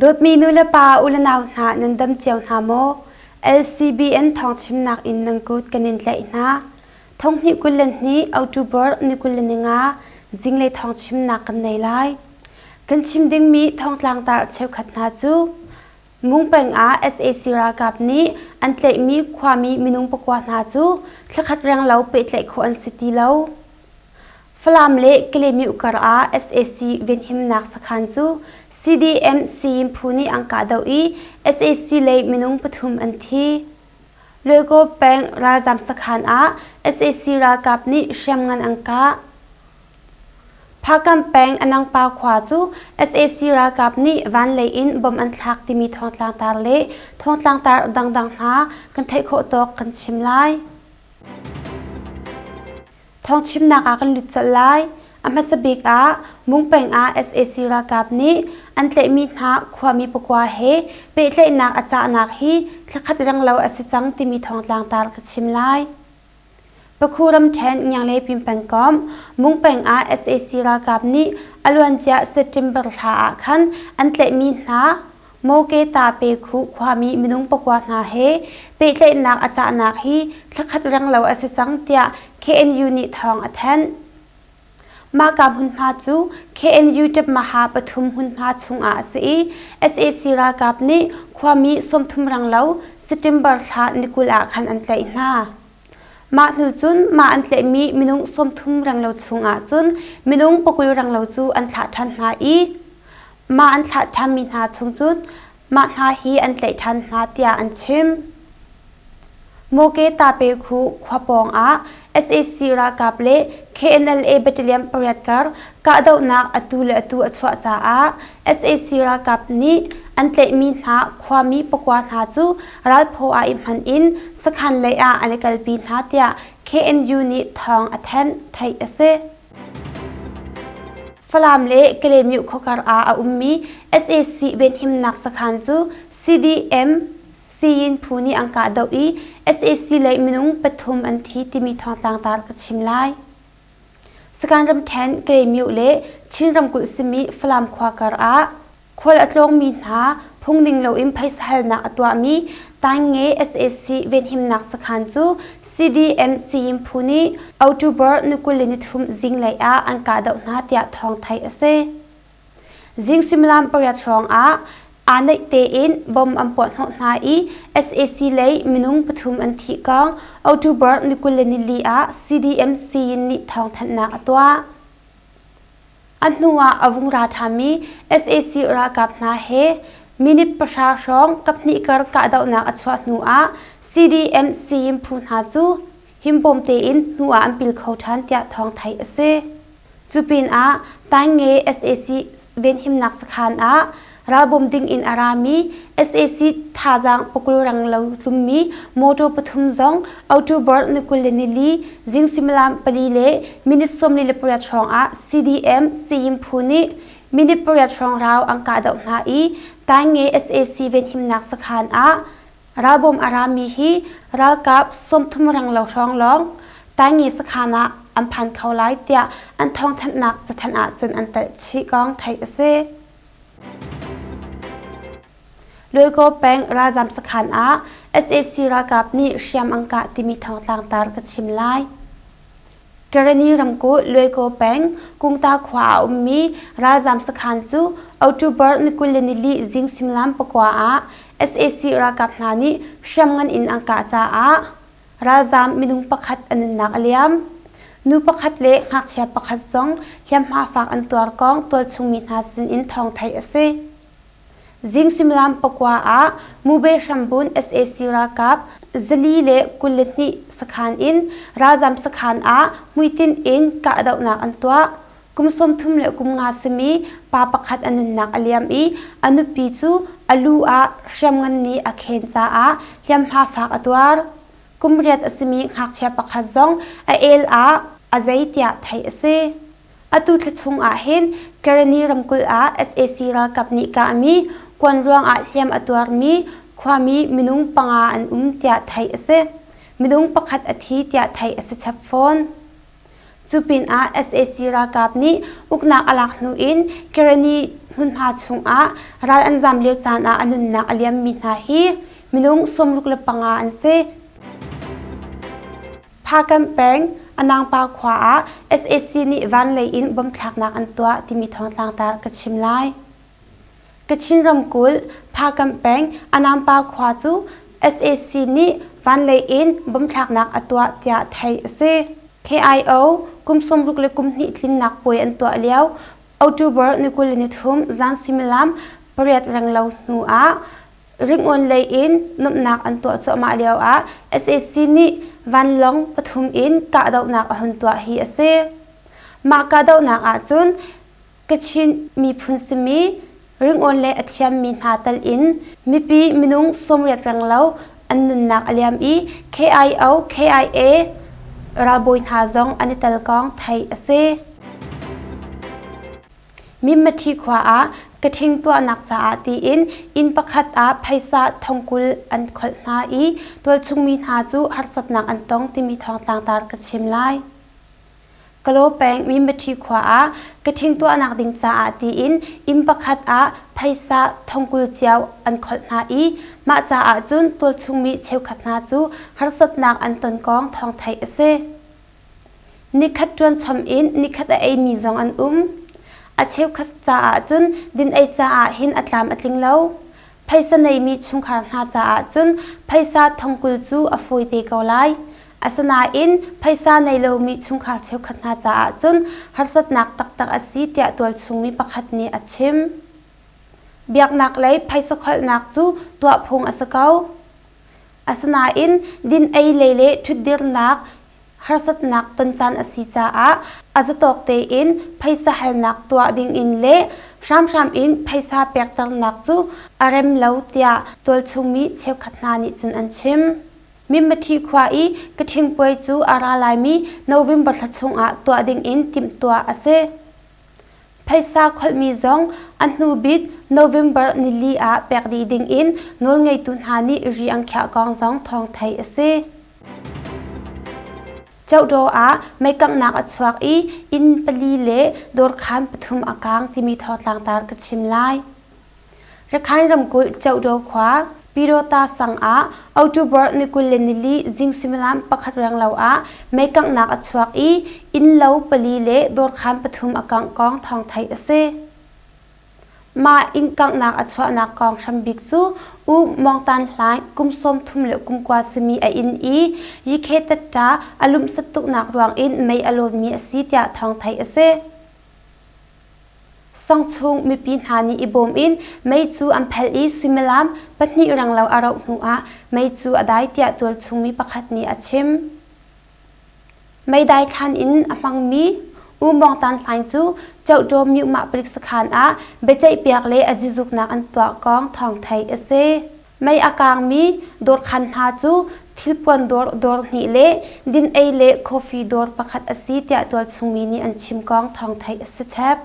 Dawtmi nulepa ulenau hna nan dam cio hna maw? LCBN thawngchimnak in nan kut kan in tlaih hna. Thonghnih kul le hnih October ni kul le ninga zinglei thawngchimnak kan nei lai. Kan chim dingmi thongtlangtar cheukhat hna cu Ngung peng ah sac ralkap nih an tlaihmi khuami minung pakua hna cu thlakhat renglo pehtlaih khawh an si ti lo. Falam le Kelemyuh kar ah sac venhimnak sakhan cu CDM Sayin Phu nih an kahdoh i sac lei minung pathum an thi. Luaigaw peng ralzaam sakhan ah sac ralkap nih hriamngan an kah. Phakam peng Anangpa khua cu sac ralkap nih vanlei in bom an thlak timi thawngtlangtar le thawngtlangtar dangdang hna kan theih khawh tawk kan chim lai. Thawngchimnak ah kan lut colh lai. A hmasa bik ah Mungpeng ah sac ralkap nih an tlaihmi hna khuami pakua he pehtlaihnak a cahnak hi thla khat renglo a si cang timi thawngtlangtar ka chim lai. Pakhu ramṭhen Ngianglei Pingpengkomh, Mung peng ah sac ralkap nih a luancia September thla ah khan an tlaihmi hna Moketa-Pekhuh khuami minung pakua hna he pehtlaihnak a cahnak hi thla khat renglo a si cang tiah KNU nih thawng a thanh. Mahka hmunhma cu KNU ṭepmaha pathum hmunhma chungah a si i sac ralkap nih khuami sawmthum rang lo September thla ni kul ah khan an tlaih hna. Mah hnu cun mah an tlaihmi minung sawmthum rang lo chungah cun minung pakul rang lo cu an thlah ṭhan hna i mah an thlah ṭhanmi hna chung cun Mah hna hi an tlaih ṭhan hna tiah an chim. Moke-Tape-khu khua pawngah sac ralkap le KNLA battalion pariat kar kahdohnak atu le atu a chuah caah sac ralkap nih an tlaihmi hna khuami pakua hna cu ralphaw ah i hman in sakhan lei ah an i kalpi hna tiah KNU nih thawng a thanh, theih a si. Falam le Kalemyu khuakar ah a ummi SAC venhimnak sakhan cu CDM Siyin Phu nih an kah doh i SAC lei minung pathum an thi timi thawngtlang tar ka chim lai. Sakhan ramṭhen Kalemyu le Chin ramkulh simi Falam khuakar ah Khual a tlawngmi hna phungning loin phaisa halnak a tuahmi Tainge sac venhimnak sakhan cu CDM Sayim Phu nih October ni kul in nithum zinglei ah an kahdoh hna tiah thawng theih a si. Zing suimilam pariat hrawngah aa naih tein bom an puahhnawh hna i sac lei minung pathum an thi kong October ni kul le nili ah CDM Sayin nih thawngthanhnak a tuah. A hnu ah a vung ra ṭhami sac ralkap hna he minute pahra hrawng kaphnih kar kahdohnak a chuah hnu ah CDM sayim phu hna cu himbawm tein hnu ah an pil kho ṭhan tiah thawng theih a si. Cu pinah Tainge sac venhimnak sakhan ah Ralbawm ding in a rami sac thazaang pukulrang lo tlummi motor pathum zong October ni kul le nili zing suimilam pali le minute sawmli le pariat hrawngah CDM Sayim Phu nih minute pariat hrawng rau an kahdoh hna i Tainge sac venhimnak sakhan ah ralbawm a rami hi ralkap sawmthum ranglo hrawng lawng Tainge sakhan ah an phan kho lai tiah an thawngthanhnak cathanh ahcun an telh chih kong theih a si. Luikaw peng ralzam sakhan ah sac ralkap nih hriam an kah timi thawngtlang tar ka chim lai. Karani ramkulh Luikaw peng Kungta khua ah ummi ralzam sakhan cu October ni kul le nili zing suimilam pakua ah sac ralkap hna nih hriam ngan in an kah caah Ralzaam minung pakhat an nunnak a liam. Nu pakhat le ngakchia pakhat zong hliamhma faak an tuar kong tualchungmi hna sinin thawng theih a si. Zing suimilam pakua ah Mube Hrambun sac ralkap zali le kul le hnih sakhan in ralzaam sakhan ah hmuitinh in kahdohnak an tuah. Kum sawmthum le kum nga simi pa pakhat a nunnak a liam i a nupi cu a lu ah hriamngan nih a khen caah hliamhma faak a tuar. Kum riat a simi ngakchia pakhat zong a el ah a zei tiah theih a si. Atu thla chung ah hin Kerani ramkulh ah sac ralkap nih kahmi kuan ruangah hliam a tuarmi khuami minung panga an um tiah theih a si. Minung pakhat a thi tiah theih a si chap fawn. Cu pinah sac ralkap nih uknak a lak hnu in Kerani hmunhma chungah ral an zam lio caan ah a nunnak a liammi hna hi minung sawmruk le panga an si. Phakan peng Anangpa khua ah sac nih van lei in bomb thlaknak an tuah timi thawngtlangtar ka chim lai. Kachin ramkulh Phakam peng Anampa khua cu sac nih vanlei in bom thlaknak a tuah tiah theih a si. KIO kum sawmruk le kum hnih tlinnak puai an tuah lio October ni kul le nithum zan suimilam pariat renglo hnu ah ringawn lei in nuamhnak an tuah cuahmah lio ah sac nih vanlawng pathum in kahdohnak a hun tuah hi a si. Mah kahdohnak ahcun Kachin miphun simi, ringawn le a thiammi hna tal in mipi minung sawmriat renglo an nunnak a liam i KIO, KIA ralbawi hna zong an i telkawng theih a si. Mimmathi khua ah kathing tuahnak caah tiin inn pakhat ah phaisa thongkul an kholh hna i tualchung mi hna cu harsatnak an tong timi thawngtlangtar ka chim lai. Kalaw peng Minbathi khua ah ka ṭhing tuahnak ding caah tiin inn pakhat ah phaisa thongkul cio an kholh hna i mah caah cun tualchungmi cheukhat hna cu harsatnak an ton kong thawng theih a si. Nikhat ṭuan chom in nikhat a eimi zong an um. A cheukhat caah cun din ei caah hin a tlam a tling lo. Phaisa neimi chungkhar hna caah cun phaisa thongkul cu a fawi te ko lai. Asinain phaisa nei lomi chungkhar cheukhat hna caah cun harsatnak taktak a si tiah tualchungmi pakhat nih a chim. Biaknaklei phaisa kholhnak cu tuah phung a si ko. Asinain din-ei lei le ṭhutdirnak harsatnak ton caan a si caah a zatawk tein phaisa halnak tuah dingin le hramhram in phaisa pek cangnak cu a rem lo tiah tualchungmi cheukhat hna nih cun an chim. Mimmaṭhi khua i ka thingpuai cu a ra laimi November thla chungah tuah dingin timhtuah a si. Phaisa kholhmi zong a hnu bik November nili ah pek dih dingin nawlngeitu hna nih ri an khiah kong zong thawng theih a si. Chawdaw ah meikanghnak a chuak i inn pali le dawrkhan pathum a kaang timi thawngtlangtar ka chim lai. Rakhine ramkulh Cheudo khua Pirota sang ah October ni kul le nili zing suimilam pakhat renglo ah meikanghnak a chuak i innlo pali le dawrkhaan pathum a kangh kong thawng theih a si. Mah innkanghnak a chuahnak kong hrambik cu U Mong Tan Hlaing kum sawmthum le kum kua simi a inn i yikhe tatta a lumsat tuknak ruangin mei a lawmmi a si tiah thawng theih a si. Sang chung mipi hna nih i bawm in mei cu an phelh i suimilam pahnih renglo a rauh hnuah mei cu a dai tiah tualchung mi pakhat nih a chim. Meidai thlan in a hmangmi U Mawng Tan Hlaing cu Chawṭaw Myumah palik sakhan ah biaceihpiak le a zizuknak an tuah kong thawng theih a si. Mei a kaangmi dawrkhan hna cu thilpuan dawr dawr hnih le din-ei le coffee dawr pakhat a si tiah tualchungmi nih an chim kong thawng theih a si chep.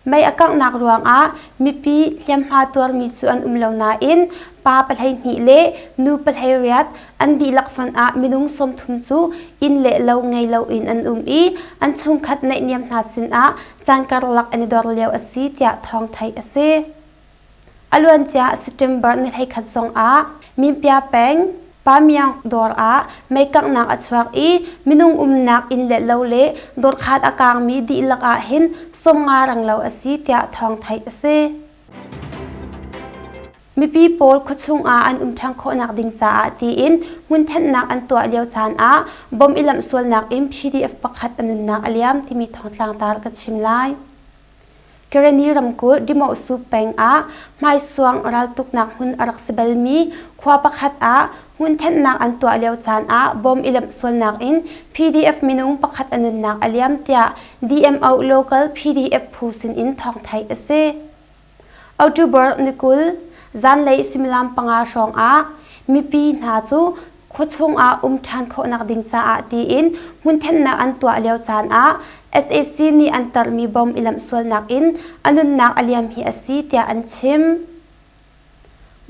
Mei a kanghnak ruangah mipi hliamhma tuarmi cu an um lo nain pa pahleihnih le nu pahleiriat an dihlak hmanh ah minung sawmthum cu inn le lo ngei loin an um i an chungkhat naihniam hna sinah caan karlak an i dor lio a si tiah thawng theih a si. A luancia September ni hleikhat zongah Minpya peng Pamyang dawr ah meikanghnak a chuak i minung umnak inn let lo le dawrkhaan a kaangmi dihlak ah hin sawmnga ranglo a si tiah thawng theih a si. Mipi pawl khuachung ah an um ṭhan khawhnak ding caah tiin hmun thenhnak an tuah lio caan ah bom i lamh sualnak in PDF pakhat a nunnak a liam timi thawng tlangtar ka chim lai. Kareni ramkulh Dimawsu peng ah hmaisuang raltuknak hmun a rak si balmi khua pakhat ah hmun thenhnak an tuah lio caan ah bom i lemh sualnak in PDF minung pakhat a nunnak a liam tiah DMO local PDF phu sinin thawng theih a si. October ni kul zanlei suimilam panga hrawng ah mipi hna cu khuachung ah um ṭhan khawhnak ding caah tiin hmunthennak an tuah lio caan ah sac nih an tarmi bom i lamh sualnak in a nunnak a liam hi a si tiah an chim.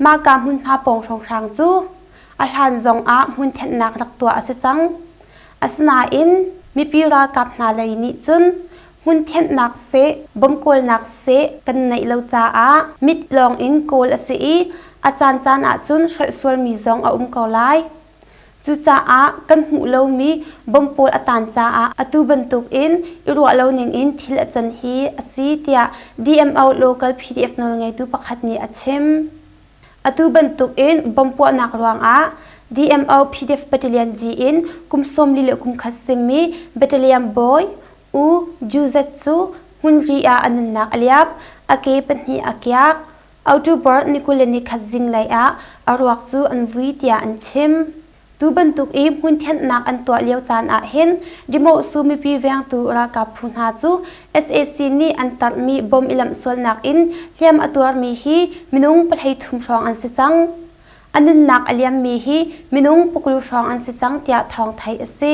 Mahka hmunhma pawng hrawnghrang cu a hlan zong ah hmunthennak rak tuah a si cang. Asinain mipi ralkap hna lei nih cun Hmunthenhnak seh, bawmkawlnak seh kan neih lo caah mit lawng in kawl a si i a caancaan ahcun hrolh sualmi zong a um ko lai. Cucaah kan hmuh lomi bom pawl a taan caah atu bantukin i ruah lo ningin thil a can hi a si tiah DMO Local PDF nawlngeitu pakhat nih a chim. Atu bantukin bom puahnak ruangah DMO PDF Battalion G in kum sawm li le kum khat simi Battalion Bawi U Juzet cu hmunri ah a nunnak a liap, a ke pahnih a kiak. Autubor ni kul le ni khat zinglei ah a ruak cu an vui tiah an chim. Tu bantuk i hmun thianhnak an tuah lio caan ah hin dimawhsu mipi vengtu ralkap phu hna cu sac nih an tarhmi bom i lamh sualnak in hliam a tuarmi hi minung pahhlei thum hrawng an si cang. A nunnak a liammi hi minung pukru hrawng an si cang tiah thawng theih a si.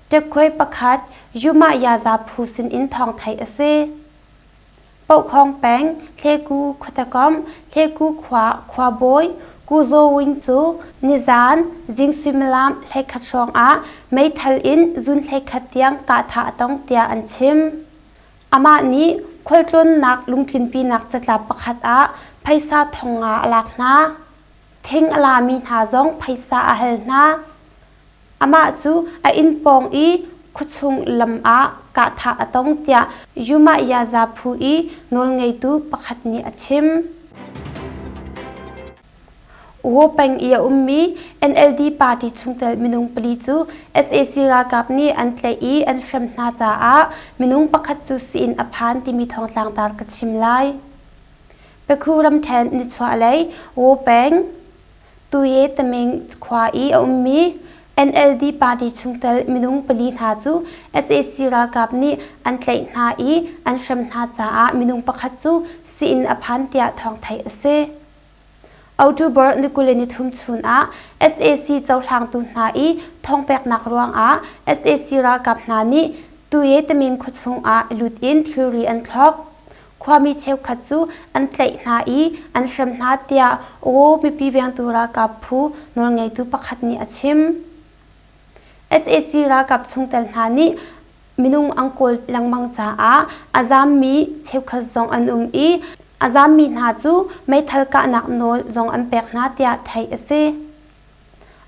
Ṭekhuai pakhat Yumah-yaza phu sinin thawng theih a si. Pohkhawng peng Hleku khuatekomh Hleku khua khuabawi Ku Zaw Win cu nizaan zing suimilam hleikhat hrawngah meithal in zun hleikhat tiang kah thah a tong tiah an chim. Amah nih khualtlawnnak lungtlinpinak catlap pakhat ah phaisa thong nga a lak hna. Thing a lami hna zong phaisa a hal hna. Amah cu a inn pawng i khuachung lam ah kahthah a tong tiah Umayyazaa phu i nawlngeitu pakhat nih a chim. Uaw peng i a ummi NLD party chungtel minung pali cu sac ralkap nih an tlaih i an hrem hna caah minung pakhat cu sii-inn a phan timi thawngtlang dar ka chim lai. Pekhu ramṭhen nichuahlei Uaw peng Tuyetaming khua i a ummi NLD party chungtel minung pali hna cu sac ralkap nih an tlaih hna i an hrem hna caah minung pakhat cu sii-inn a phan tiah thawng theih a si. October ni kuli ni thum chun ah sac cohlangtu hna i thawngpeknak ruangah sac ralkap hna nih Tuyetaming khuachung ah lut in thilri an thlawk. Khuami cheukhat cu an tlaih hna i an hrem hna tiah Aw mipi vengtu ralkap phu nawlngeitu pakhat nih a chim. sac ralkap chungtel hna nih minung an kawl lengmang caah a zaammi cheukhat zong an um i a zaammi hna cu meithal kahnak nawl zong an pek hna tiah theih a si.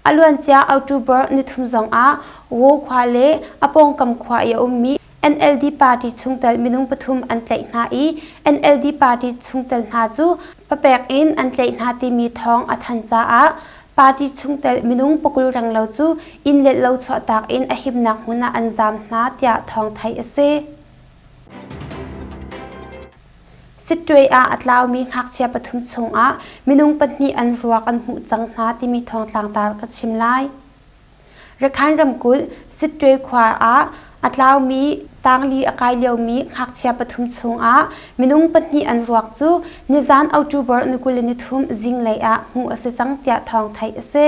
A luancia October nithum zongah Wo khua le a pawngkam khua i a ummi NLD party chungtel minung pathum an tlaih hna i NLD party chungtel hna cu papek in an tlaih hna timi thawng a thanh caah party chungtel minung pakul renglo cu inn let lo chuahtak in a himnak hmun ah an zaam hna tiah thawng theih a si. Sitṭuei ah a tlaumi ngakchia pathum chungah minung pahnih an ruak an hmuh cang hna timi thawngtlang tar ka chim lai. Rakhine ramkulh Sitṭuei khua ah a tlaumi tangli a kai liomi ngakchia pathum chungah minung pahnih an ruak cu nizan October ni kul le nithum zinglei ah hmuh a si cang tiah thawng theih a si.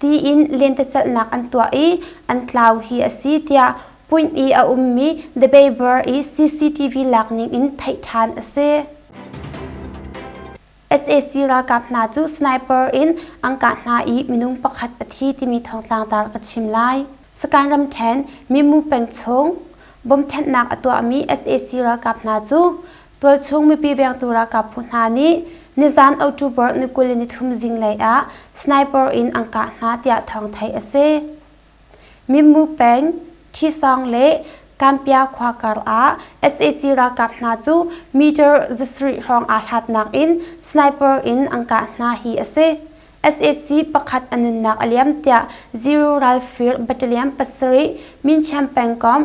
tiin lentecelhnak an tuah i an tlau hi a si tiah Punt i a ummi The Baybor i CCTV lak ning in theih ṭhan a si. sac ralkap hna cu sniper in an kah hna i minung pakhat a thi timi thawngtlang tar ka chim lai. Sakan ramṭhen Mimmu peng chung bom thenhnak a tuahmi sac ralkap hna cu Tualchung mipi vengtu ralkap phu hna nih nizan October ni kul le nithum zinglei ah sniper in an kah hna tiah thawng theih a si. Minmu peng, Thisong le Kampya khua karah sac ralkap hna cu meter zasarih hrawng aa hlatnak in sniper in an kah hna hi a si. sac pakhat a nunnak a liam tiah Zero Ralfir Battalion pasarih Mincham pengkomh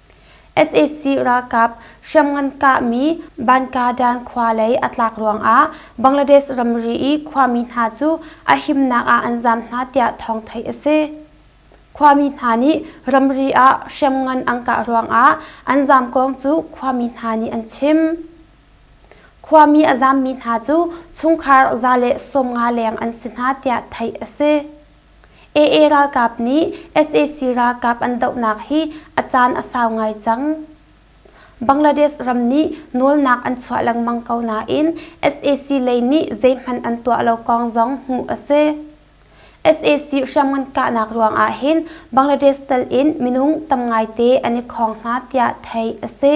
sac ralkap hriamngan kahmi bankadan khua lei a tlak ruangah bangladesh ramri i khuami hna cu a himnak ah an zaam hna tiah thawng theih a si khuami hna nih ramri ah hriamngan an kah ruangah an zaam kong cu khuami hna nih an chim khuami a zaammi hna cu chungkhar za le sawmnga leng an si hna tiah theih a si AA ralkap nih sac ralkap an dohnak hi a caan a sau ngai cang. Bangladesh ram nih nawlnak an chuah lengmang ko nain sac lei nih zeihmanh an tuah lo kong zong hmuh a si. sac hriamngan kahnak ruangah hin Bangladesh tal in minung tam ngaite an i khawng hna tiah theih a si.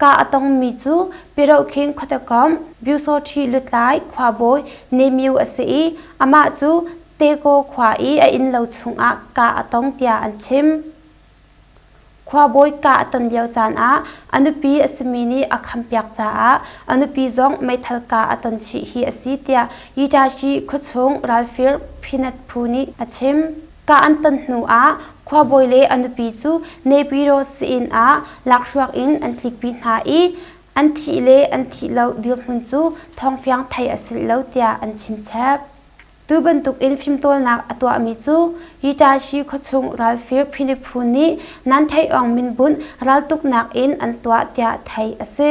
Kaa a tongmi cu Pirohkhing khuatakawm Byusawṭhi lutlai khuabawi Nemyu a si i amah cu Teko khua i a innlo chungah kaa a tong tiah an chim. Khuabawi kaa a ton lio caan ah a nupi a simi nih a khampiak caah a nupi zong meithal kaa a ton chih hi a si tiah Itachi khuachung ralfir Peanut phu nih a chim. Kah an ton hnuah khuabawi le a nupi cu Nepiro sa-inn ah lakhruak in an tlikpi hna i an thih le an thih lo dirhmun cu thawngfiang theih a si lo tiah an chimchep. Tu bantukin fimtawlnak a tuahmi cu Itachi khuachung ralfir philiphu nih nan theih awng min bunh raltuknak in an tuah tiah theih a si.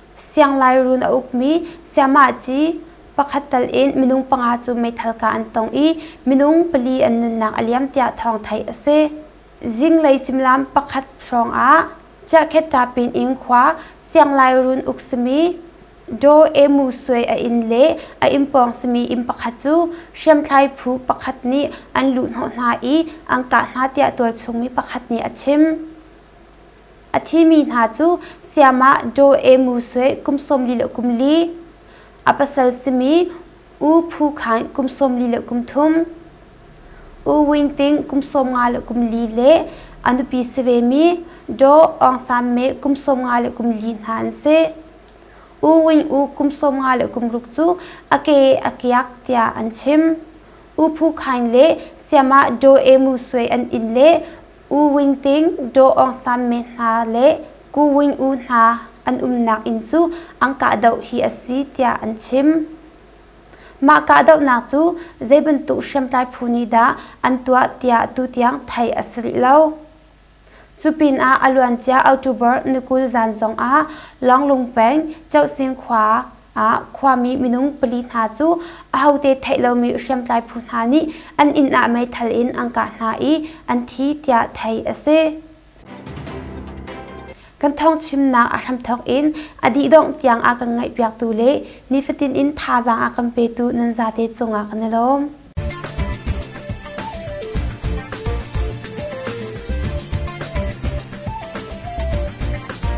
Sianglairuun a ukmi Siamaci pakhat tal in minung panga cu meithal ka an tong i minung pali an nunnak a liam tiah thawng theih a si. Zinglei suimilam pakhat hrawngah Chiahkheta-pin in khua Sianglairuun uk simi Do Emu Swe a inn le a inn pawng simi inn pakhat cu hriamthlai phu pakhat nih an luh hnawh hna i an kah hna tiah tualchung mi pakhat nih a chim. A thimi hna cu Siamah Daw E Mu Swe kum sawmli le kum li, a pasal simi U Phu Khain kum sawmli le kum thum, U Win Ting kum sawmnga le kum li le a nupi si vemi Daw Aung San Me kum sawmnga le kum li hna an si. U Win U kum sawmnga le kum ruk cu a ke a kiak tiah an chim. U Phu Khain le Siamah Daw E Mu Swe an inn le U Win Ting, Daw Aung San men hna le Ku Win Oo hna an umnak inn cu an kahdoh hi a si tiah an chim. Mah kahdohnak cu zei bantuk hriamtlai phu nih dah an tuah tiah tutiang theih a si rih lo. Cu pinah a luancia October ni kul zan zongah Lawnglung peng Choh Sing khua ah khuami minung pali hna cu ahote theih lomi hriamtlai phu hna nih an inn ah meithal in an kah hna i an thi tiah theih a si. Kan thawngchimnak a hramthawk in a dih dongh tiang a kan ngaihpiaktu le nifatin in thazaang a kan petu nan zate cungah kan i lawm.